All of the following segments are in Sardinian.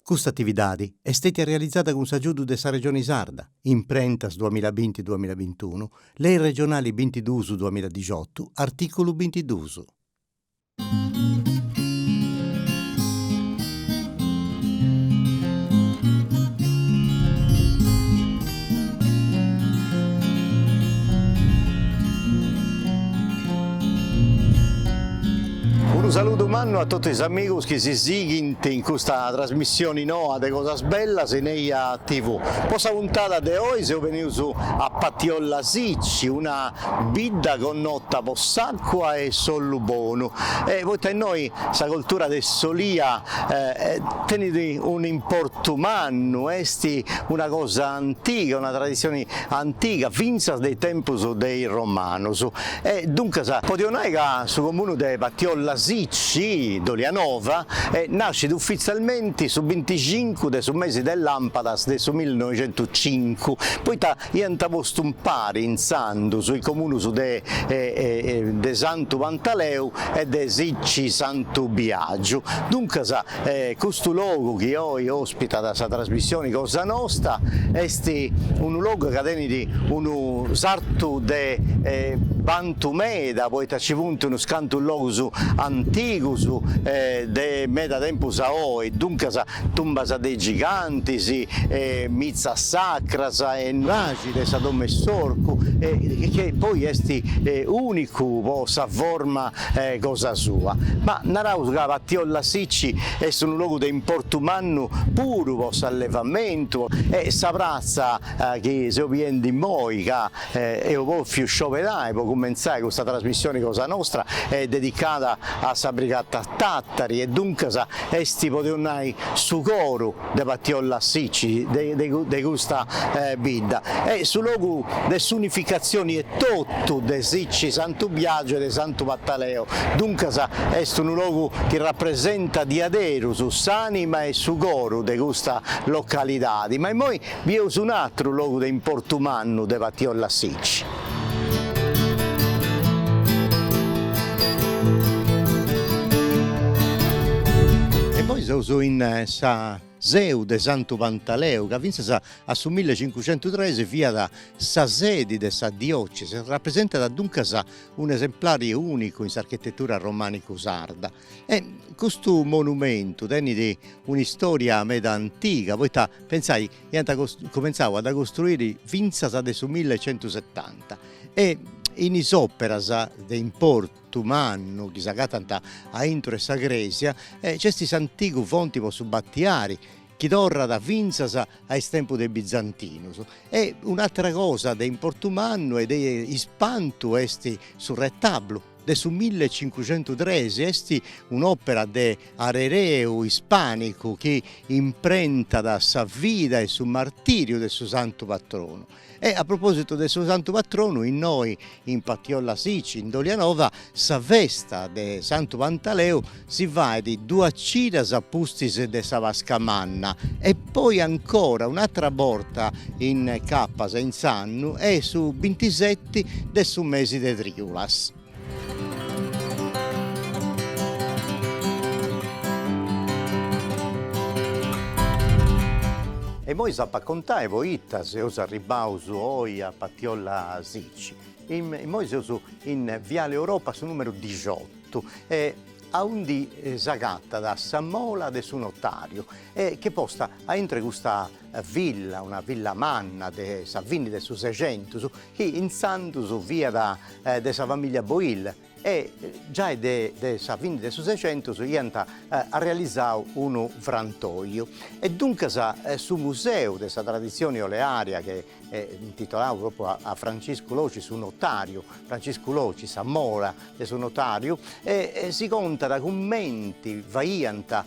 Custa atividadi est stètia realizada cun s'agiudu de sa Regioni Sarda, Imprentas duamilla binti duamilla bintunu, Lei Regionali bintiduus duamilla dixotu, artìculu bintiduus. Unu saludu mannu a totu is amigus chi si sighint in custa trasmissioni noa de Cosas Bellas in Eja TV. Po sa puntada de oi seus benius a Patiolla Sicci, una bidda connota po sa. cua e s'ollu bonu e poita innoi sa coltura de s'olia tenit un'importu mannu, est una cosa antiga, una tradissioni antiga fintzas de is tempus de is romanus e duncas podeus nai ca su comunu de Patiolla Sicci, Dolianova, nascit ufitzalmenti su bintixincu de su mesi de lampadas de su millinoixentucincu, poita Iant postu impari intzandus is comunus de de Santu Pantaleu e de Sicci Santu Biagiu, duncas custu logu chi oi ospitat sa trasmissioni cosa nosta est unu logu ca tenit unu sartu de bantu meda poita ci funt unus cantus logus antigus de meda tempus a oi, duncas tumbas de is gigantis, mitzas sacras e nuraxi de Sa Dom'e s'Orcu chi poi est unicu po sa forma cosa sua. Ma naraus ca Patiolla Sicci est unu logu de importu mannu puru po s'allevamentu e sa pratza chi seus biendi immoi ca Eus bòfiu scioberai po cumentzai custa trasmissioni cosa nostra est dedicada a sa Brigata Tàtari e duncas est podeus nai su coru de Patiolla Sicci de custa bidda e su logu de s'unificatzioni etotu de Sicci Santu Biagiu e de Santu Pantaleu, duncas est unu logu chi rapresentat diaderus s'anima e su coru de custa localidadi, ma immoi Bieus un'atru logu de importu mannu de Patiolla Sicci. E poi seus in sa seu de Santu Pantaleu, ca fintzas a su millecincucentutres fiat sa sedi de sa diocesi e rapresentat duncas un'esemplare unicu in s'architetura romanicu sarda. E custu monumentu tenit un'istoria meda antiga poita pentzai chi ant comentzau a dda costruiri fintzas de su mille e centu setanta e in is operas de importu mannu chi s'agatant aintru 'e sa cresia nc'est s'antigu fonti po su battiari chi torrat fintzas a is tempus de is bizantinus e un'atera cosa de importu mannu e de ispantu est su retablu de su millecincuxentutres est un'òpera de arereu ispànicu chi imprentat sa vida e su martìriu de su santu patronu. E a propòsitu de su santu patronu, innoi in Patiolla Sici, in Dolianova, sa festa de Santu Pantaleu Si faet duas cidas a pustis de sa Pasca Manna e poi ancora un'atra borta incapas in s'annu e su bintiseti de su mesi de Triulas. E moi s'apo a contai poita seus arribbaus oi a Patiolla Sici. Immoi seus in Viale Europa su numeru dixotu. E aundi s'agatat sa mola de su notariu, ch'est posta aintru 'e custa villa, una villa manna de sa fini de su Sexentus, chi intzandus fiat de sa familia Boil, e giai de de sa fini de su Sexentus iant arrealizau unu frantoiu, e duncas su museu de sa traditzioni olearia chi est intitolau propriu a a Franciscu Loci su notariu, Franciscu Loci sa mola de su notariu e si contat cumenti faiant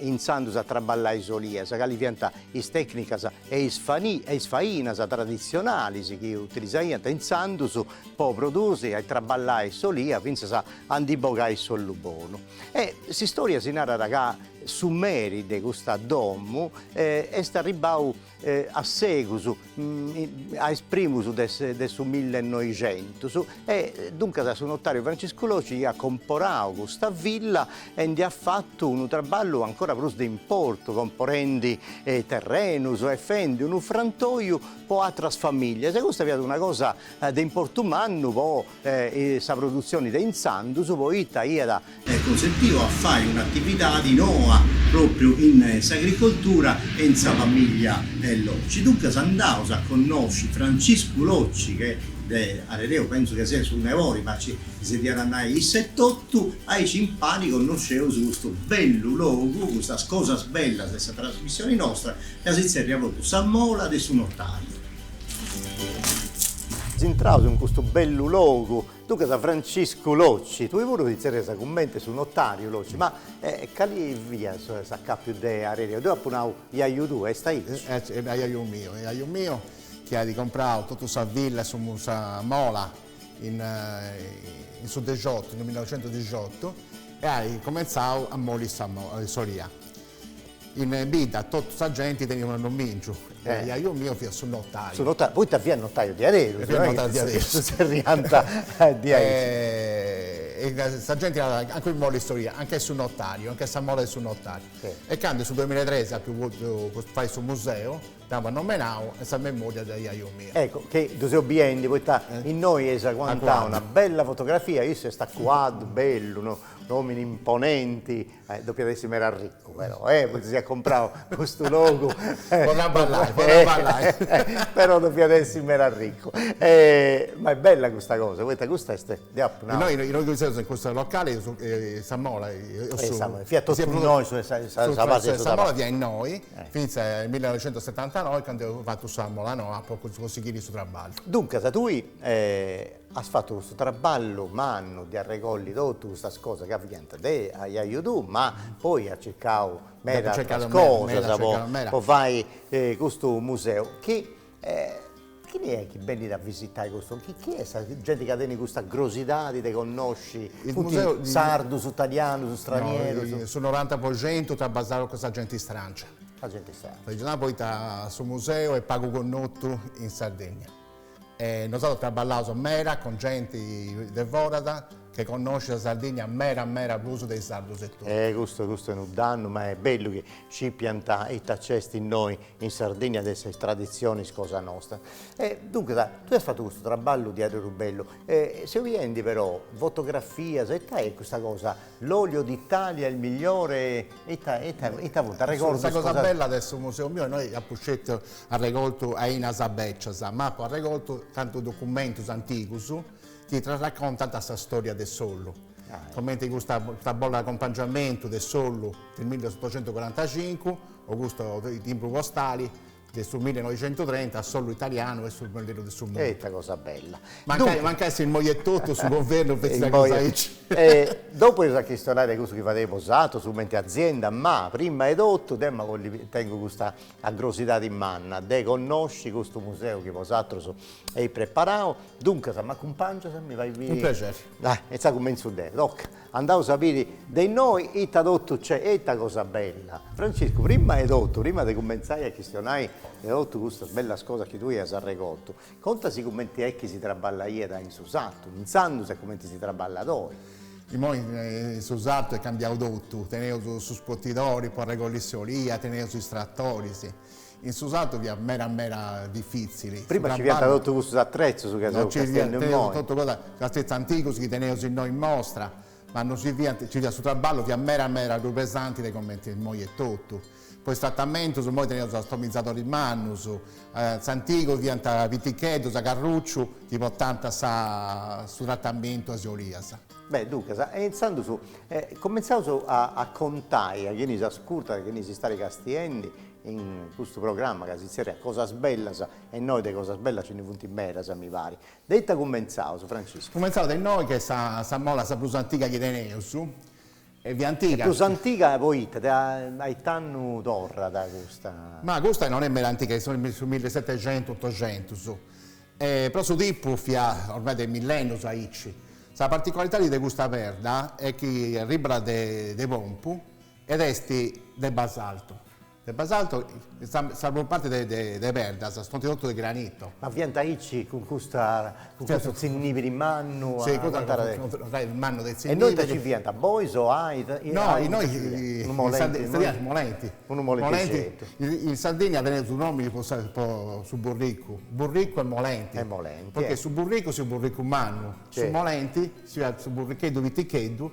intzandus a traballai s'olias, cali fiant is tecnicas e is e is fainas tradizionalis chi utilizaiant intzandus po produsi e traballai s'olia fintzas a a ndi bogai s'ollu bonu. E s'istoria si narat ca su meri de custa domu est arribbau a segus a is primus de de su millenoixentus e duncas su notariu Franciscu Loci iat comporau custa villa e nd'iat fatu unu traballu ancora prus de importu comporendi terrenus e fendi unu frantoiu po atras familias e custa fiat una cosa de importu mannu po sa produtzioni de intzandus poita iat cunsentiu a fai un'atividadi noa pròpriu in s'agricoltura e in sa famìllia Locci. Duncas andaus a connosci Franciscu Locci chi de arereu pentzu chi siat su nebori ma nci si ddu at a nai issu etotu, aici impari connosceus custu bellu logu, custas cosas bellas de sa trasmissioni nostra ca si tzerriat propriu Sa Mola de su Notàriu. Intrados in custu bellu logu, duncas Franciscu Locci, tui puru ti zerrias cummente a su notariu Locci, ma cali fiat s'acapiu de areu, deu apu nau jaju tuu, est aici? Est jaju miu, jaju miu chi at comprau totu sa villa, sa mola in su dexiotu, in millinoxentudixiotu e at comentzau a moli s'olia. In bidda totu sa genti teniat unu annòmìngiu e a iaju miu fiat su notàiu. Su notàiu, poita fiat notàiu diaderus. Fiat notàiu diaderus. Si zerriant diaici. Sa genti narat, ancora immoe in s'istòria, a nche est su notàriu, a nche est sa mola de su notàriu. E candu in su duamilla e trexi apu boltu fai su museu, dd'apu annomenau in sa memòria de iaju miu. Ecco, che ddu seu biendi, poita innoi eis aguantau una bella fotografia, issu est a cuaddu, bellu, un'òmini imponenti, Depiat essi meda arricu però, e poita si at comprau custu logu. Po no abballai, po no abballai. Però depiat essi meda arricu. Ma est bella custa cosa, poita custa est, deu apu nau. Innoi, innoi chi seus in custu locali eus sa mola. Fiat totu innoi su 'e sa fasi 'e su tabacchi. Sa mola fiat innoi, fintzas a is millinoixentusetantanoi candu eus fatu sa mola noa po consighiri su traballu. Duncas tui As fatu custu traballu mannu de arregolli totu custas cosas chi fiant de aiaiu tuu, ma poi as circau meda ateras cosas po po fai custu museu. Chi chini est chi benit a visitai custu, chi chi est sa genti ca tenit custa crosidadi de connosci, funt sardus, italianus, stranierus? No, su noranta po centu traballaus cun sa genti stràngia. Sa genti stràngia. Poita su museu est pagu connotu in Sardegna. E nosatrus traballaus meda cun genti de foras che connoscit sa Sardigna meda meda prus de is sardus etotu. E custu custu est unu dannu, ma est bellu chi scipiant ita nc'est innoi in Sardigna de is traditzionis cosa nostra. E duncas, tui as fatu custu traballu diaderus bellu, e seu biendi però fotografias, ita est custa cosa L'olio d'Italia il migliore ita ita ita funt arregordus cosa. Sa cosa bella de su museu miu est no apu sceti arregortu ainas becias ma apu arregortu tantus documentus antigus chi t'arracontant sa storia de s'ollu comenti custa custa bolla de acompangiamentu de s'ollu de milleotocentucuarantacincu o custu timbru postali de su millenoixentutrenta s'ollu italianu est su prus bellu de su mundu. E ita cosa bella. Mancai mancai immoi etotu su guvernu fatzat cosa aici. E dopu eus a chistionai de cussu chi fadeis bosaterus cumenti azienda, ma prima 'e totu deo immoi tengu custa crosidadi manna de connosci custu museu chi bosaterus eis preparau, duncas m'acumpangias, mi fai. Cun prexeri. Dai, insaras cumentzu deo, toca. Andaus a biri de innoi ita totu nc'est e ita cosa bella. Franciscu, prima 'e totu, prima de cumentzai a chistionai de totu custas bellas cosas chi tui as arregortu, contasi cumenti est chi si traballaiat in su sartu intzandus e cumenti si traballat oi. Imoi in su sartu est cambiau totu, teneus is scotidoris po arregolli s'olia, teneus is tratoris, In su sartu fiat meda meda difìtzili. Prima nci fiant totu cussus atrezus ca seus castiendu immoi. Totu cussus atrezus antigus chi teneus innoi in mostra, ma non ci fiat, nci fiat su traballu fiat meda meda prus pesanti de comente est immoi etotu. Po tratamentus immoi teneus is atomizadoris mannus, in s'antigu fiant piticheddus a carruciu chi portànta su tratamentu a is olias. Beh, duncas, e intzandus comentzaus a contai a chini si ascurtat, a chini si stait castiendi, in custu programma ca si tzerriat Cosas bellas, e innoi de cosas bellas nci ndi funt medas, mi parit. De ita cumentzaus, Franciscu? Cumentzaus de innoi, ca est sa mola sa prus antiga chi teneus, est prus antiga. Est prus antiga poita? De ait'annu torrat custa? Ma custa non est meda antiga, est de su millesetexentus, otoxentus, però su tipu fiat ormai de millennus aici. Sa particularidadi de custa perda est chi arribat de Pompu Ed est de basalto. De basalto. Sa prus parti de perdas funti totu de granito. Ma fiant aici cun custa, cun custu tzinnibiri mannu a aguantare de. Fiat unu trainu mannu de tzinnibiri. E innoi ita ci fiant, bois o ita? No, innoi, ci fiat molenti. Unu molentixeddu. In Sardigna teneus duus nòminis po su burricu, burricu e molenti. E molenti. Poita su burricu si fiat su burricu mannu, su molenti si fiat su burricheddu piticheddu.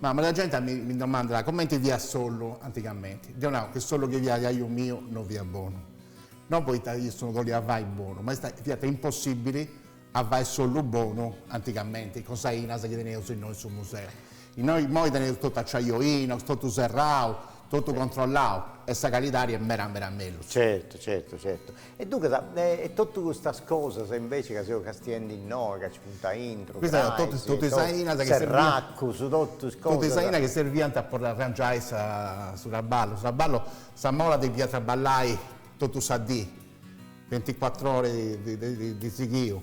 Ma meda genti mi domandat comenti fiat s'ollu antigamenti. Deo nau chi s'ollu chi faiat aiu miu no fiat bonu. No poita issu no ddu boliat fai bonu, ma fiat impossibili a fai s'ollu bonu antigamenti, cun is ainas chi teneus innoi in su museu. Innoi immoi teneus totu acciaio inox, totu serrau, totu controllau e sa calidadi est meda meda mellus. Certu, certu, certu. E duncas, e totu custas cosas invece ca seus castiendi innoi, ca nci funt aintru, crais, serracus, totus cosas. Totu is ainas chi serviant po arrangiai su traballu. Su traballu, sa mola depiat traballai totu sa dì, binticuatru oras de sighiu.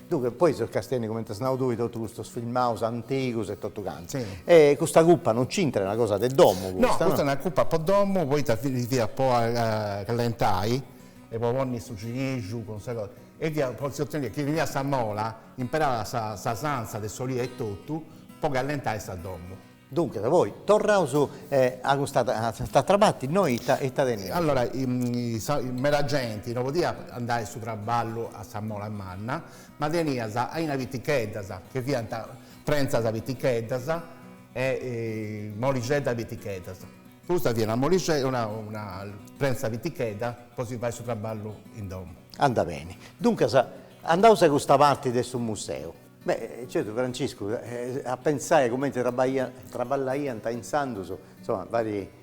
Duncas, poi seus castiendi comenti as nau tui totu custus filmaus antigus e totu cantu. Sì. E custa cuppa non c'intrat, est una cosa de domu custa. No, custa est una cuppa po domu, poita fiat po callentai e po ponni su cinixu cun sa cosa. E fia po si ottenere, chini teniat sa mola, imperàt sa sanza de s'olia e totu po callentai sa domu. Duncas, poi, torraus a custa s'atra parti, innoi ita ita teneus? Allora, meda genti no podiat andai a su traballu a sa mola manna, ma teniat ainas piticheddas, che fiant prentzas piticheddas e molixeddas piticheddas. Custa fiat una moli una prentza pitichedda po si fai su traballu in domu. Anda beni. Duncas, andaus a custa parti de su museu. Beh, certu Franciscu, a pentzai cumenti traballaiant intzandus, insoma, fait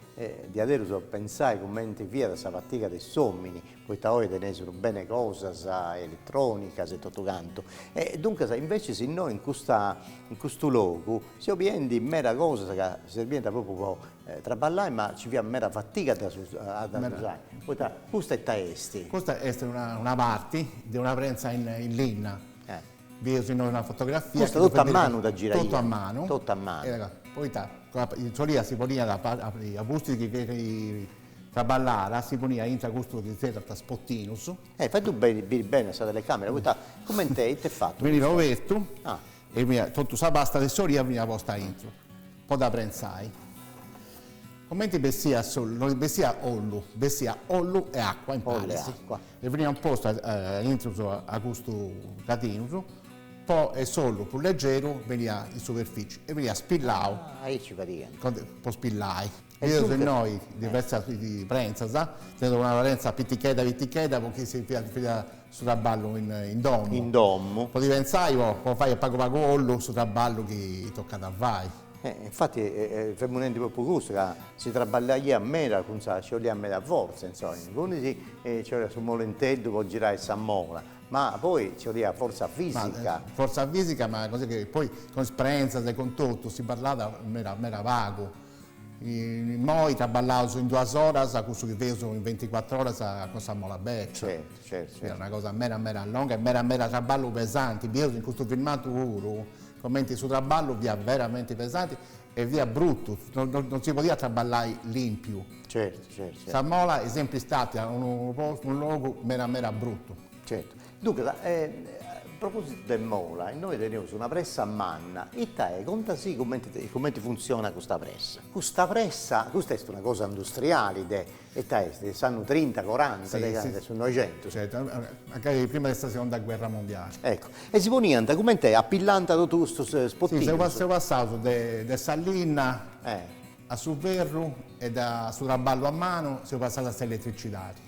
diaderus a pentzai cumenti fiat sa fatiga de s'omini, poita oi teneus unu bene cosas eletronicas e totu cantu, e duncas invecias innoi in custa, in custu logu si biint meda cosas ca serbiant propriu po traballai ma ci fiat meda fatiga a ddas usai, poita custa ita est? Custa est una parti de una prentza in linna, Bieus innoi una fotografia. Custa totu a manu dda giraiant. Totu a manu. Totu a manu. Poita s'olia si poniat a pustis chi fiat traballada si poniat intra custus chi zerrant isportinus. E fai tui beni, biri beni a sa telecamera, poita cumenti est fatu. Beniat obertu e beniat totu sa pasta de s'olia beniat posta aintru. po dda prentzai. Comenti bessiat s'ollu, no bessiat ollu, bessiat ollu e acua imparis, e beniant postu intrus a custus catinus po e s'ollu prus legeru beniat in superfici e beniat spillau, po spillai. Bieus innoi diversas prentzas, teneus una prentza pitichedda pitichedda po chi si faiat su traballu in domu. In domu. Podeis pentzai po fai a pagu pagu ollu su traballu chi tocat a fai. E infati femu nendi propriu custu ca si traballaiat meda fintzas nci 'oliat meda fortza insoma. Cuindi nci fiat su molenteddu po girai sa mola, ma poi nci 'oliat fortza fisica. Fortza fisica ma così che poi cun is prentzas e cun totu si parlat meda meda pagu. Immoi traballaus in duas oras, cussu chi femus in venticuatr'oras cun sa mola bècia. Certu, certu. Fiat una cosa meda meda longa e meda meda traballu pesanti. Bieus in custu filmadu puru cumenti su traballu fiat veramenti pesanti e fiat brutu, non si podiat traballai limpiu. Certu, certu. Sa mola est sempri stàtia unu postu, unu logu meda meda brutu. Certu. Duncas, a propositu de mola, innoi teneus una pressa manna, ita est? Conta-sì cumenti funtzionat custa pressa. Custa pressa, custa est una cosa industriali de, ita est, de s'annu trinta, coranta, de candu, de su Noixentus. mancai prima de sa segonda guerra mundiali. Eccu, e si poniant cumenti a pillanta totu custus sportinus. Si, seus passaus de de sa linna a su ferru e da su traballu a manu seus passaus a s'elettricidadi.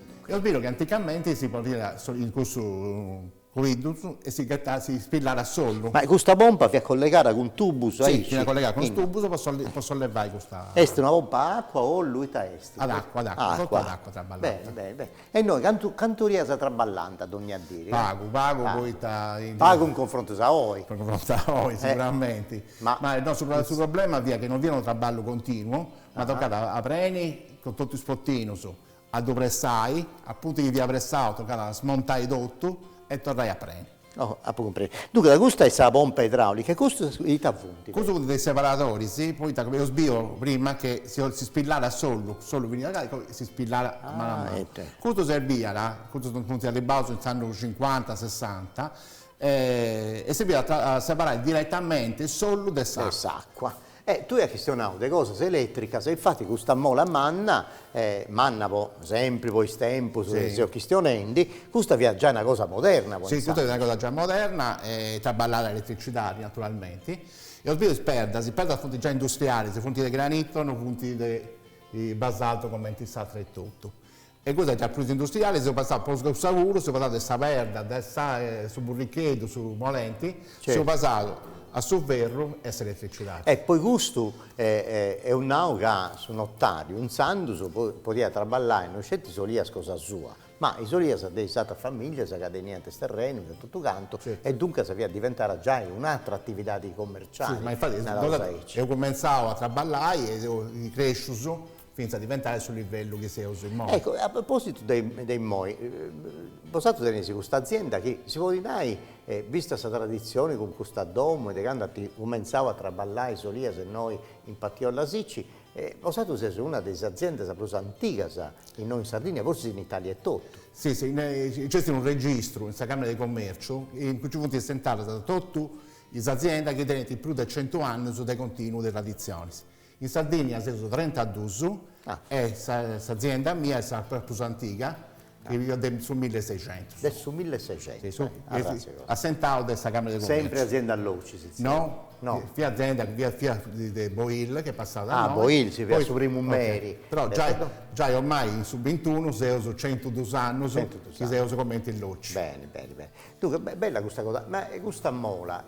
Est beru chi anticamente si poniat in cussu coiddus e si ghetat, si spillàt s'ollu. Ma custa pompa fiat collegada cun tubus aici? Si, fiat collegada cun is tubus po sollevai custa. Est una pompa a acua o ollu, ita est? Ad acua, ad acua, totu ad acua traballànt. Beni, beni, beni. E innoi cantu, cantu olias traballànt dogna dì? Pagu, pagu poita. Pagu in confrontus a oi. In confrontus a oi siguramenti. Ma. Ma no, su su problema fiat chi no fiat unu traballu continu, ma tocàt a preni cun totu is sportinus, A ddu pressai, apuntu chi fiat pressau tocàt a smontai totu e torrai a preni. Oh, apu cumprendiu. Duncas custa est sa pompa idraulica e custus ita funt? Custus funt de is separadoris, poita ca eus biu prima chi si spillàt s'ollu, s'ollu finiat gai, poi si spillàt a manu a manu. Custu serbiat, custus funt arribbaus in is annus cincuanta, sessanta, e serviat a separai diretamenti s'ollu de s'acua. E tui as chistionau de cosas eletricas e infati custa mola manna, manna po sempri po is tempus chi seus chistionendi, custa fiat giai una cosa moderna po intzandus. Si, custa fiat una cosa giai moderna e traballàt a eletricidadi naturalmenti. Eus biu is perdas, is perdas funt giai industrialis, funt de granito, no funt de basalto cumenti is atras etotu. E custu est giai prus industriali seus pasaus po su saguru, seus pasaus de sa perda de sa su burricheddu, su molenti, seus pasaus a su ferru e a s'eletrecidadi. E poi custu eus nau ca su notariu intzandus podiat traballai no sceti is olias cosa sua, ma is olias de is atras familias ca teniant is terrenus e totu cantu e duncas fiat diventada giai un'atra atividadi commerciali, naraus aici. Eus cumentzau a traballai e seus crescius fintzas diventare su livellu chi seus immoi. Ecco, a propositu de de immoi, bosatrus teneis custa azienda chi si podit nai, vista sa traditzioni cun custa domo e de candu at cumentzau a traballai is olias innoi in Patiolla Sicci, bosatrus seis una de is aziendas prus antigas innoi in Sardigna, forsis in Italia etotu. Si, si, nc'est unu registru in sa Camera de Commerciu in cui nci funt assentadas totu is aziendas chi tenint prus de centu annus de continu de traditzionis. In Sardìnnia seus trentaduus e s'azienda mia est sa prus antiga, de su milleseicentus. De su milleseicentus, arratzionau. Assentau de sa Camera de Commerciu. Sempri azienda Locci si zerriat? No, fiat azienda, fiat de Boyl chi est passada a nois. Boyl, si fiat su primu meri. Però giai giai ormai in su bintunu seus centuduus annus chi seus cumenti Locci. Beni, beni, beni. Duncas, bella custa cosa, ma custa mola,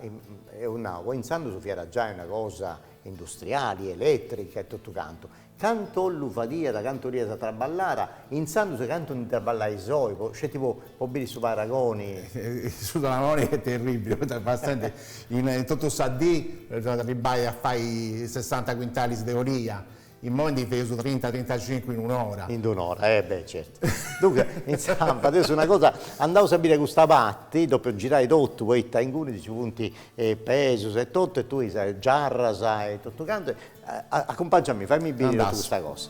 eus nau, po intzandus fiat giai una cosa industriali, elètrica e totu cantu, cantu ollu fadiat, cantu olias traballàt, intzandus e cantu ndi traballais oi, po, sceti po, po biri su paragoni. Su paragoni est terribili, poita passende in, in totu sa dì, dda arribai a fai sessanta cuintalis de olia, Immoi ndi feus trinta, trintacincu in un'ora. In un'ora, eh beh, certu. Duncas, intzandus, feus una cosa, andaus a biri a custa parti, dopu giraus totu, poita inguni nci funt pesus e totu, e totu is giarras e totu cantu, acumpangia a mì, faimì biri totu custa cosa.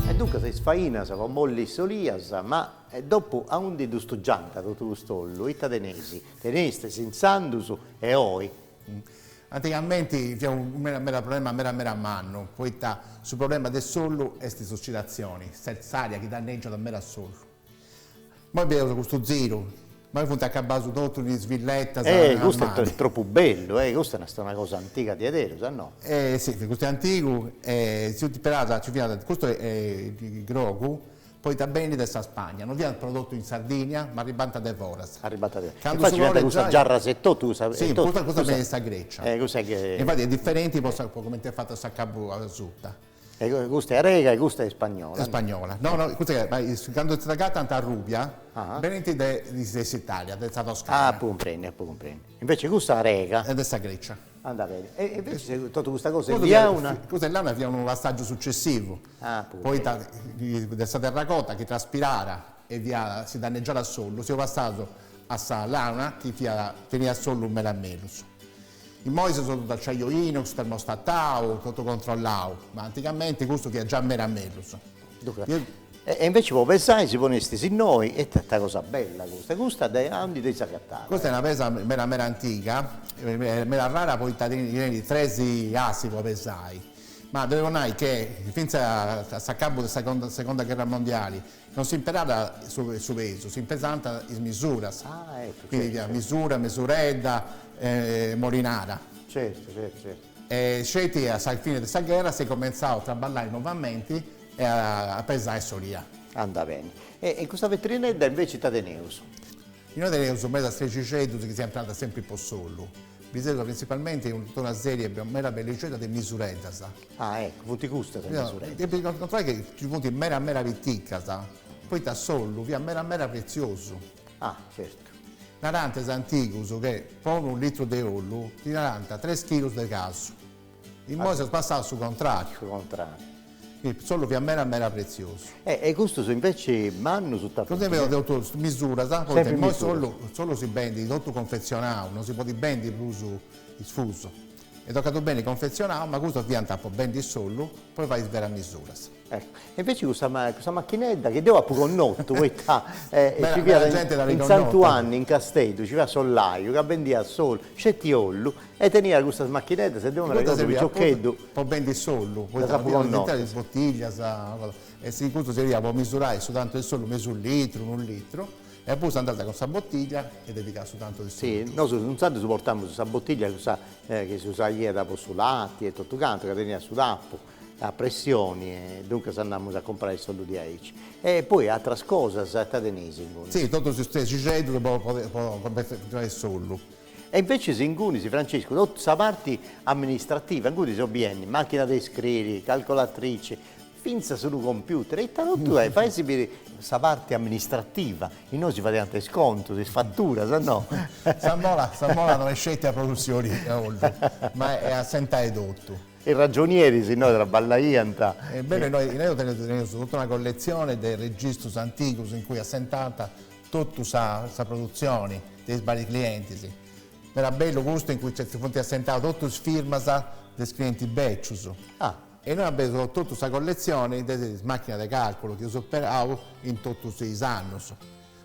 E duncas is fainas po molli s'olia, ma e dopu aundi ddu stugiànt totu custu ollu? Ita teneis? Tenestis intzandus e oi? Antigamente fiat unu problema meda meda mannu, poita su problema de s'ollu est s'ossidatzioni, s'aria chi dannègiat meda s'ollu. Immoi bieus custu ziru. Immoi funt acabaus in totu is villettas a manu. Tropu bellu eh, custa est una cosa antiga diaderus, no? Eh si, custu est antigu e si funt imperaus, nci fiant, custu grogu poita benit de sa Spagna, no fiat prodottu in Sardigna ma arribant de foras. Arribant de foras, infati nci fiant custas giarras e totu, custa, si, custa benit de sa Grecia, infati est diferenti po coment'est fata s'acabu asuta. E custa est arega e custa est ispagnola. Ispagnola. No, no, custa est, ma is, candu si s'agatant arrubias, benint de de s'Italia, de sa Toscana. Apu cumprendiu, apu cumprendiu. Invece custa arega. Est de sa Grecia. Anda beni. E invece totu custa cosa est de launa? Custa est launa, fiat unu passàgiu sucessivu. Apu cumprendiu. Poita de sa terracota chi traspiràt e fiat, si danneggiàt s'ollu, seus passaus a sa launa chi fiat, teniat s'ollu meda mellus. Immoi seus totu acciaio inox, termostatau, totu controllau, ma antigamenti custu fiat già mera mellus. Duncas, e inveci po pesai si ponestis innoi, e ita cosa bella custa, e custa de aundi dd'eis agatada? Custa est una pesa meda meda antiga, meda rara poita tenit tres assi po pesai, ma depu nai che fintzas a s'acabu de sa seconda gherra mondiali Non s'imperàt su pesu, s'imperànt is misuras, cuindi misura, mesuredda, molinada. Certu, certu, certu. E sceti a sa fine de sa gherra s'est comentzau a traballai novamenti e a pesai s'olia. Andat beni. E in custa vetrinedda inveci ita teneus? Innoi teneus medas atretzixeddus chi s'imperànt sempri po s'ollu. Bieus printzipalmenti totu una sèrie meda bellixedda de misureddas. Ah, ecco, funt custas is mesureddas. Depis controllai chi nci funt meda meda piticas, poita s'ollu fiat meda meda pretziosu. Ah, certu. Narant is antigus che po unu litru de ollu ti 'onànt tres chilus de casu. Immoi s'est passau a su contrariu. Su contrariu. Chi s'ollu fiat meda meda pretziosu. E e custus inveci mannus ita funt? Custus fiant totus misuras, poita immoi s'ollu s'ollu si bendit totu confetzionau, non si podit bendi prus isfusu. E tocàt beni confezionau, ma custas fiant po bendi s'ollu po e fai is beras misuras. Ecco. E inveci custa custa machinedda chi deu apu connotu poita nci fiat in Santuanni in Casteddu nci fiat s'ollaiu ca bendiat s'ollu, sceti ollu, e teniat custas machineddas e deu m'arregodu piciocheddu po bendi s'ollu poita ddas apu connotas. is botiglias e custu serviat po misurai su tantu 'e s'ollu, mesu litru, unu litru E poi andànt cun sa botiglia e dedicat su tantu de su litru. Si, nosu intzandus portàmus sa botiglia cussa chi s'usaiat po su lati e totu cantu, ca teniat su tapu a pressioni e duncas andàmus a comporai s'ollu de aici. E poi atras cosas ita teneis inguni? Si, totus is trexixeddus po comperai s'ollu. E inveces ingunis, Franciscu, totu sa parti amministrativa, inguni seus biendi, machina de iscriri, calcolatrici, Fintzas unu computer, ita totu est, fait biri sa parti amministrativa, innoi si fadiant is contus, is faturas, no? Sa mola, sa mola no est sceti produtzioni de ollu, ma est assentai totu. Is ragionieris innoi traballaiant. E bellu, innoi innoi teneus totu una colletzioni de registrus antigus in cui assentànt totu sa sa produtzioni de is vàrius clientis. Meda bellu custu in cui nci funt assentadas totus is firmas de is clientis bècius. Ah E innoi teneus totu sa colletzioni de is màchinas de càrculu chi eus imperau in totus is annus,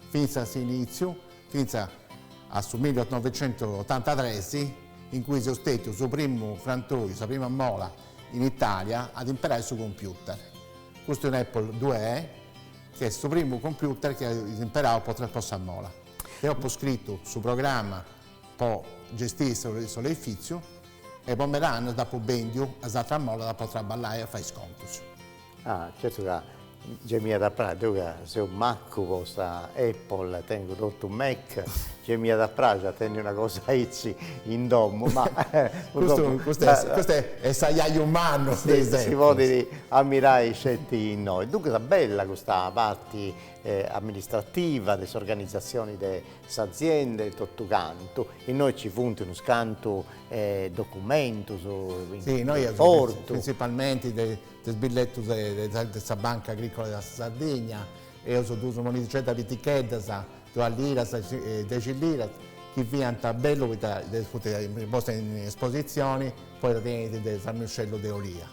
fintzas a s'inìtziu, fintzas a su millinovicentusotantatres, in cui seus stètius su primu frantoi, sa prima mola in Itàlia a imperai su computer, custu un'Apple due e, chi est su primu computer chi eus imperau po sa mola. Deu apu scritu su programma. Po gestiri s'oleifìtziu e po meda annus dd'apu bèndiu a is atras molas po traballai e fai is contus. Ah, certu ca gei m'iat a praxi, deu ca seu macu po sa Apple, tengu totu Mac, gei m'iat a praxi a tenni una cosa aici in domu, ma purtroppu. Custu, custu est s'ajaju mannu de is Apples. Si podit ammirai sceti innoi. Duncas, bella custa parti amministrativa de s'organizatzioni de S'azienda e totu cantu, innoi ci funt unus cantu documentus innoi. Printzipalmenti de is billetus de sa Banca Agricola de sa Sardigna, eus duus monidixeddas piticheddas, duas liras e dexi liras, chi fiat bellu poita ddas funt postas in espositzioni poita tenint unu ramuscellu de Olia.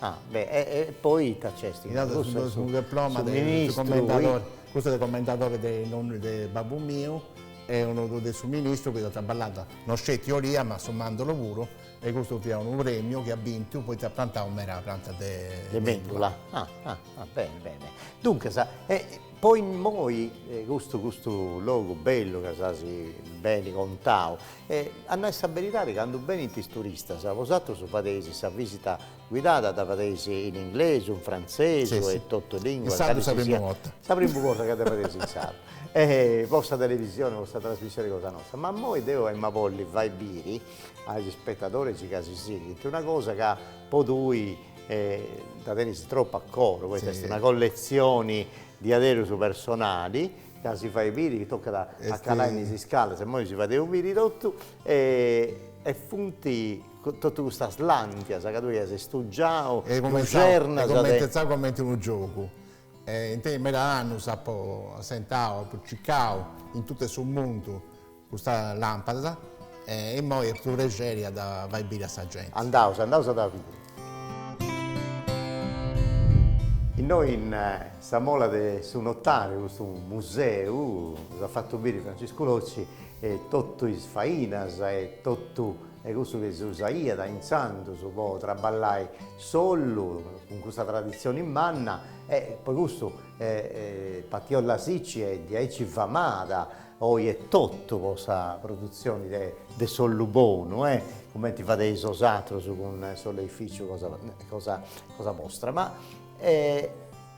Ah, beh, e e poi ita nc'est? Inoghe cussu est su diploma de su commendadore, cussu de commendadore de nonnu de babbu miu e unu de su ministru chi iat traballau, no sceti olia ma su mandorlo puru e cussu fiat unu premiu chi at bintu poita iat prantau meda prantas de de mendula. Ah ah ah beni beni. Duncas, e po immoi custu custu logu bellu chi s'as beni contau, E a nai sa beridadi candu benint is turistas, bosatrus dda fadeis sa visita guidada, dda fadeis in inglesu, in frantzesu e totu is lìnguas. In sardu sa primu borta. Sa primu borta ca dda fadeis in sardu. E po sa televisioni, po sa trasmissioni cosa nosta. Ma immoi deu emu a bolli fai biri a is spettadoris ca si sighint una cosa ca tui dda tenis tropu a coro, poita est una colletzioni diaderus personali Ca si fait biri tocat a calai in is iscalas, immoi si fadeus biri totu, e funt totu custas làntias ca tui as stugiau, luxernas de. Est cumintzau cumenti unu giogu, e in meda annus apu assentau, apu circau in totu su mundu Custa lampada e immoi at prexeri a dda fai biri a sa genti. Andaus, andaus a dda biri. Innoi in sa mola de su notariu custu museu si dd'at fatu biri Franciscu Locci totu is fainas e totu cussu chi si usaiat intzandus po traballai s'ollu cun cussa traditzioni manna e po cussu Partiolla Sicci est diaici famada Oi etotu po sa produtzioni de s'ollu bonu, cumenti fadeis bosatrus cun s'oleificiu cosa bostra. Ma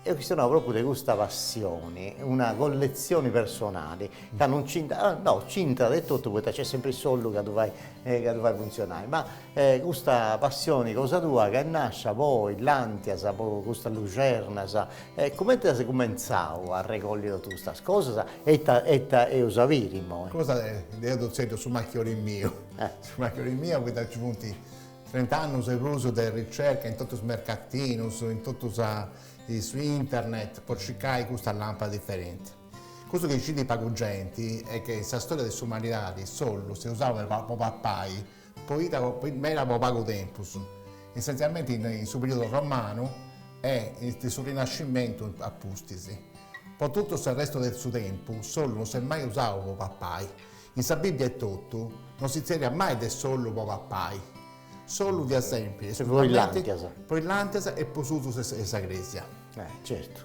eus chistionau propriu de custa passioni, una colletzioni personali, ca non c'intrat, no, c'intrat etotu poita nc'est sempri s'ollu ca ddu fait funtzionai, ma custa passioni cosa tua ca est nascia po is làntias, po custas luxernas, E comenti as cumentzau a arregolli totu custas cosas? E ita e ita eus a biri immoi? Cosa deu ddu tzèrriu su machiori miu. Su machiori miu poita nci funt trent'annus e prus de ricerca in totu is mercatinus, in totu sa in su internet po circai custa lampada diferenti. Custu chi scit pagu genti est chi in sa storia de s'umanidadi s'ollu s'est usau po pappai Po diaderus po pagu tempus, essenzialmente in su periodu romanu e in su Rinascimentu a pustis. Po totu su restu de su tempu s'ollu no s'est mai usau po papai. In sa Bibbia etotu no si tzerriat mai de s'ollu po papai. S'ollu fiat sempri esclusivamente po is làntias e po s'usu de sa Crèsia. Certu.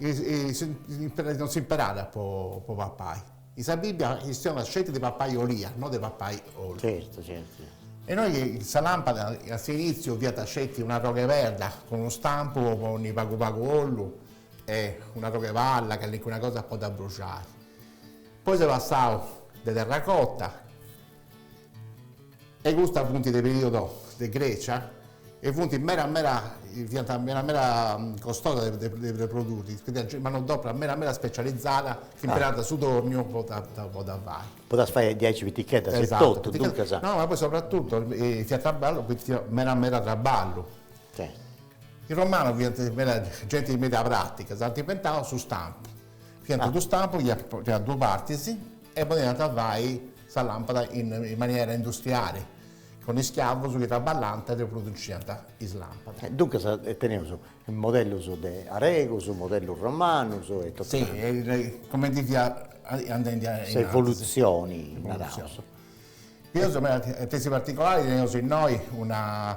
Non s'imperàt po papai. In sa Bibbia chistionat sceti de papai olia, no de papai ollu. Certu, certu, certu. E innoi sa lampada a s'initziu fiat sceti un'arrogh''e perda cun unu stampu po ponni pagu pagu ollu e un'arrogh''e palla, calicuna cosa po dda abbruxai. Poi s'est passau a terracota. E custa funt de periodo de Grecia e funt mera mera fiant mera mera costosas de de produiri, fiat manodopera mera mera specializada chi imperànt su tòrniu po dda po dda fai. Po ddas fai diaici piticheddas e totu, duncas. No ma poi soprattutto fiat traballu poita fiat mera mera traballu. Is romanus fiant meda genti meda pratica, s'ant inventau su stampu Fiant duus stampus chi fiant duas partis e podiant fai sa làmpada in maniera industriali, cun ischiavus chi traballant e produciant is làmpadas. Duncas teneus mollus de aregus, mollus romanus e totu. Si, cumenti fiat andendi a. Sa evolutzioni, naraus. Evolutzioni. De is particolaris teneus innoi una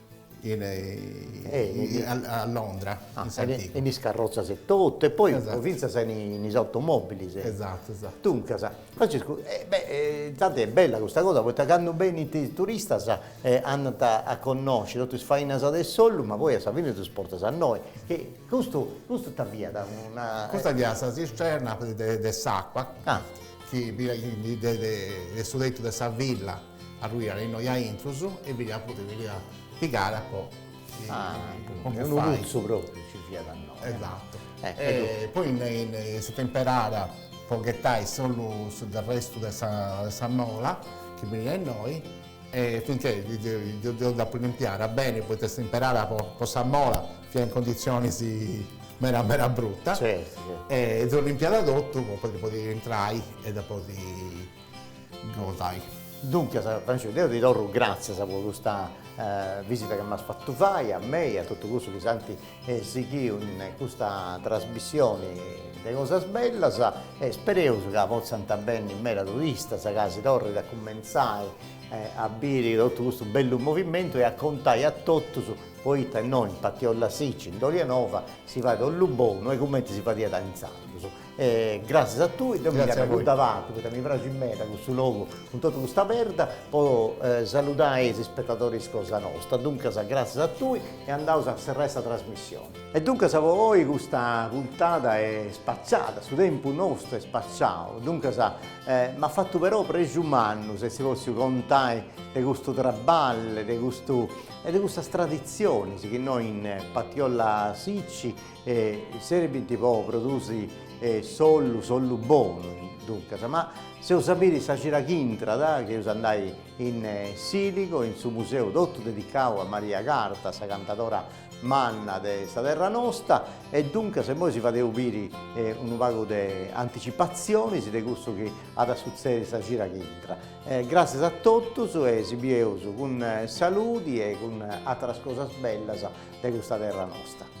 in a Londra in s'antigu. In is carrotzas e totu e poi fintzas in is automobbilis. Esatto esatto. Duncas Francescu inzandus est bella custa cosa poita candu benint is turistas andant a connosci totu is fainas de s'ollu ma poi a sa fine ddus portas innoi e custu custu ita fiat una. Custa fiat sa cisterna de s'acqua chi de su tetu de sa villa Arruiat innoi a intrus e fit a fudi chi l'ia pigare po unu putzu propriu ci fiat innoi. Esatu. Poi est stada imperada po ghetai solu su arrestu de sa mola chi finiat innoi e finche deu dd'apu limpiada beni poita stada imperada po sa mola fiat in conditzionis meda meda brutas. Certu. E deu limpiada totu po podi intrai e dda podi gosai. Duncas, Francescu, deu ti torru gràtzias po custa visita chi m'as fatu fai a mei e a totu cussus chi s'ant sighiu in custa trasmissioni de Cosas Bellas e spereus ca potzant benni meda turistas, ca si torrit a cumentzai a biri totu custu bellu movimentu e a contai a totus, poita innoi in Partiolla Sicci, in Dolianova, si fait ollu bonu e cumenti si fadiat intzandus E gràtzias a tui, deu mi nch'apo acuddavatu poita mi praxit meda custu logu cun totu custa perda po saludai is ispetadoris cosa nosta, duncas gràtzias a tui e andaus a serrai sa trasmissioni. E duncas po oi custa puntada est spaciada, su tempus nostu est spaciau, duncas m'at fatu però prexu mannu essi pòtziu contai de custu traballu e de custu e de custas traditzionis chi innoi in Partiolla Sicci E serbint po produsi s'ollu, s'ollu bonu duncas, ma s'eus a biri sa cira chi intrat, chi eus a andai in Siligo, in su museu totu dedicau a Maria Carta, sa cantadora manna de sa terra nosta, e duncas immoi si fadeus biri unu pagu de anticipatzionis de cussu chi at a sutzedi sa cira chi intrat. Gràssias a totus e si bieus cun saludi e cun àteras cosas bellas de custa terra nosta.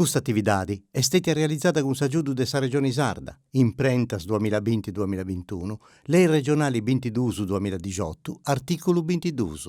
Custa atividadi est stètia realizada cun s'agiudu de sa Regioni Sarda, Imprentas duamilla binti duamilla bintunu, Lei Regionali bintiduus duamilla dixotu, artìculu bintiduus.